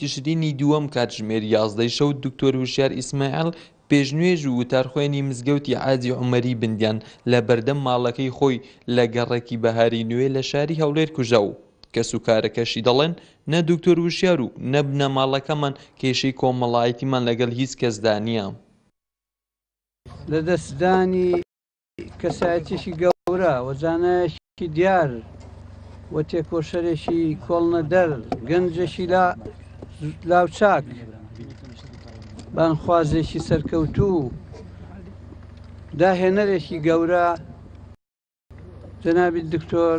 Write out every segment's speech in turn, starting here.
تشرینی دووەم کاتژمێر یازدەی شەو دکتۆر هوشیار ئیسماعیل پێش نوێژ و وتار خوێنی مزگەوتی عاجی عومەری بندیان لە بەردەم ماڵەکەی خۆی لە گەڕەکی بەهاری نوێ لە شاری هەولێر کوژرا و کەسوکارەکەشی دەڵێن نە دکتۆر هوشیار و نە بنەماڵەکەمان کێشەی کۆمەڵایەتیمان لەگەڵ هیچ کەسدا نییە. کەسایەتیەکی گەورە و زانایەکی دیار و تێکۆشەرێکی کۆڵنەدەر گەنجێکی لا لاوچاک بانخوازێکی سەرکەوتوو داهێنەرێکی گەورە جەنابی دکتۆر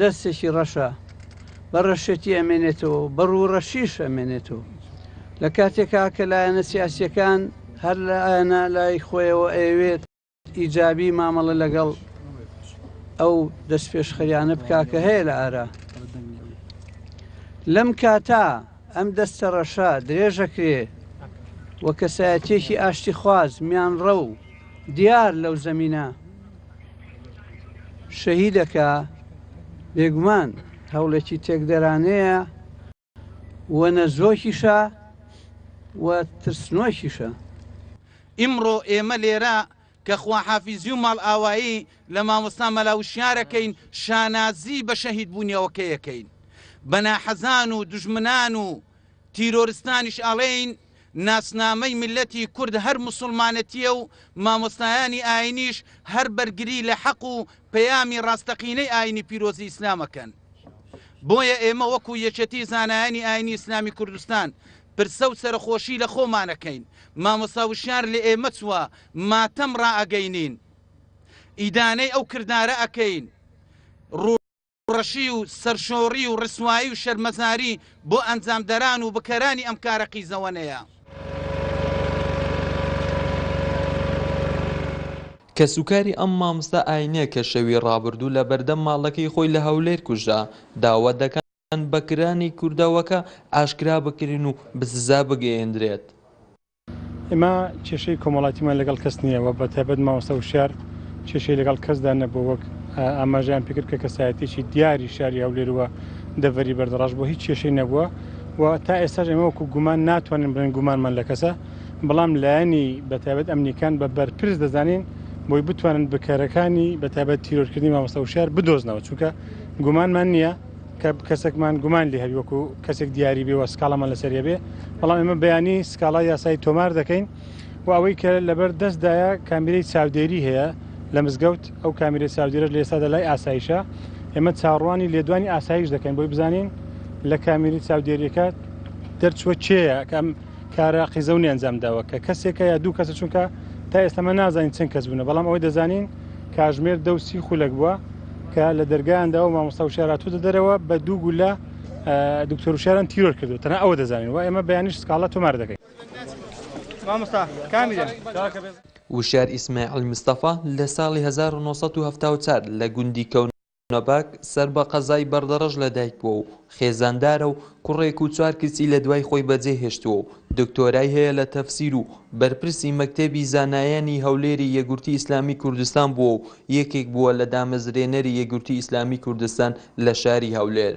دەستێکی ڕەشە بە ڕەشێتی ئەمێنێتەوە و بە ڕووڕەشیش ئەمێنێتەوە لە کاتێکا کە لایەنە سیاسیەکان هەر لە ئایەنە لای خۆیەوە ئەوێت ئیجابی مامەڵە لەگەڵ ئەو دەست پێشخەریانە بکا کە هەیە لە ئارا لەم کاتا ئەم دەستەڕەشە درێژەکرێ و کەسایەتیەکی ئاشتیخواز میانڕە و دیار لەو زەمینە شەهیدەکە بێگومان هەوڵێکی تێکدەرانەیە و نەزۆکیشە و ترسنۆکیشە. ئیمڕۆ ئێمە لێرە کە خواحافیزی و ماڵئاوایی لە مامۆستا مەلا وشیار ئەکەین، شانازی بە شەهیدبوونیەوەکەی ئەکەین. بە ناحەزان و دوژمنان و تیرۆرستانیش ئەڵێین، ناسنامەی میللەتی کورد هەر موسوڵمانەتییە و مامۆستایانی ئایینیش هەر بەرگری لە حەق و پەیامی ڕاستەقینەی ئایینی پیرۆزی ئیسلام ئەکەن. بۆیە ئێمە وەکو یەکێتی زانایانی ئایینی ئیسلامی کوردستان پرسە و سەرەخۆشی لە خۆمان ئەکەین مامۆستا وشیار لە ئێمە چوە ماتەم ڕائەگەینین ئیدانەی ئەو کردارە ئەکەین ڕوو ڕەشی و سەرشۆڕی و ڕسوایی و شەرمەزاری بۆ ئەنجامدەران و بکەرانی ئەم کارە قیزەوەنەیە. کەسوکاری ئەم ماموستا ئاینە کە شەوی ڕابردوو لە بەردەم ماڵەکەی خۆی لە هەولێر کوژرا، داوا دەکەن، یان بەکرانی کردەوەکە ئاشکرا بکرێن و بەسزا بگەیەندرێت. ئێمە کێشەی کۆمەڵایتیمان لەگەڵ کەس نییە و بەتایبەت مامۆستا وشیار کێشەی لەگەڵ کەسدا نەبووە وەک ئاماژەیان پێکرد کە کەسایەتیەکی دیاری شاری هەولێر و دەڤەری بەردەڕەش بووە هیچ کێشەی نەبووە و تا ئێستاش ئێمە وەکو گومان ناتوانین بڵێن گومانمان لە کەسە بەڵام لایەنی بەتایبەت ئەمنیەکان بە بەرپرس دەزانین بۆی بتوانن بکەرەکانی بەتایبەت تیرۆرکردنی مامۆستا وشیار بدۆزنەوە چونکە گومانمان نییە کە کەسێکمان گومان لێ هەبی وەکو کەسێک دیاری بێ وە سکاڵامان لەسەر هەبێ بەڵام ئێمە بەیانی سکاڵا یاسایی تۆمار دەکەین و ئەوەی کە لەبەر دەستدایە کامیرەی چاودێری هەیە لە مزگەوت ئەو کامیرە چاودێرەش لە ئێستادا لای ئاسایشە ئێمە چاڕوانی لێدوانی ئاسایش دەکەین بۆی بزانین لە کامیری چاودێریەکە دەرچوە چێە کەم کارە قیزەونی ئەنجام داوە کە کەسێکە یا دوو کەسە چونکە تا ئێستەمە نازانین چەند کەس بوونە بەڵام ئەوەی دەزانین کاژمێر دە و سی خولەک بووە کە لە دەرگایاندا و مامۆستا وشاراتوتە دەرەوە بە دوو گولە دکتۆر وشاران تیرۆر کردو تەنە ئەوە دەزانین و ئێمە بەیانیش سکاڵە تۆمار دەکەین وشار ئیسماعیل مستەفا لە ساڵی هەزار و نۆ سەد و هەفتا و چوار لە گوندی کەو. نۆباک سەر بە قەزای بەردەڕەش لەدایکبووە و خێزاندارە و کوڕێک و چوار کچی لەدوای خۆی بەجێهێشتووە و دکتۆرای هەیە لە تەفسیر و بەرپرسی مەکتەبی زانایانی هەولێری یەکگورتی ئیسلامی کوردستان بووە و یەکێک بووە لە دامەزرێنەری یەکگورتی ئیسلامی کوردستان لە شاری هەولێر.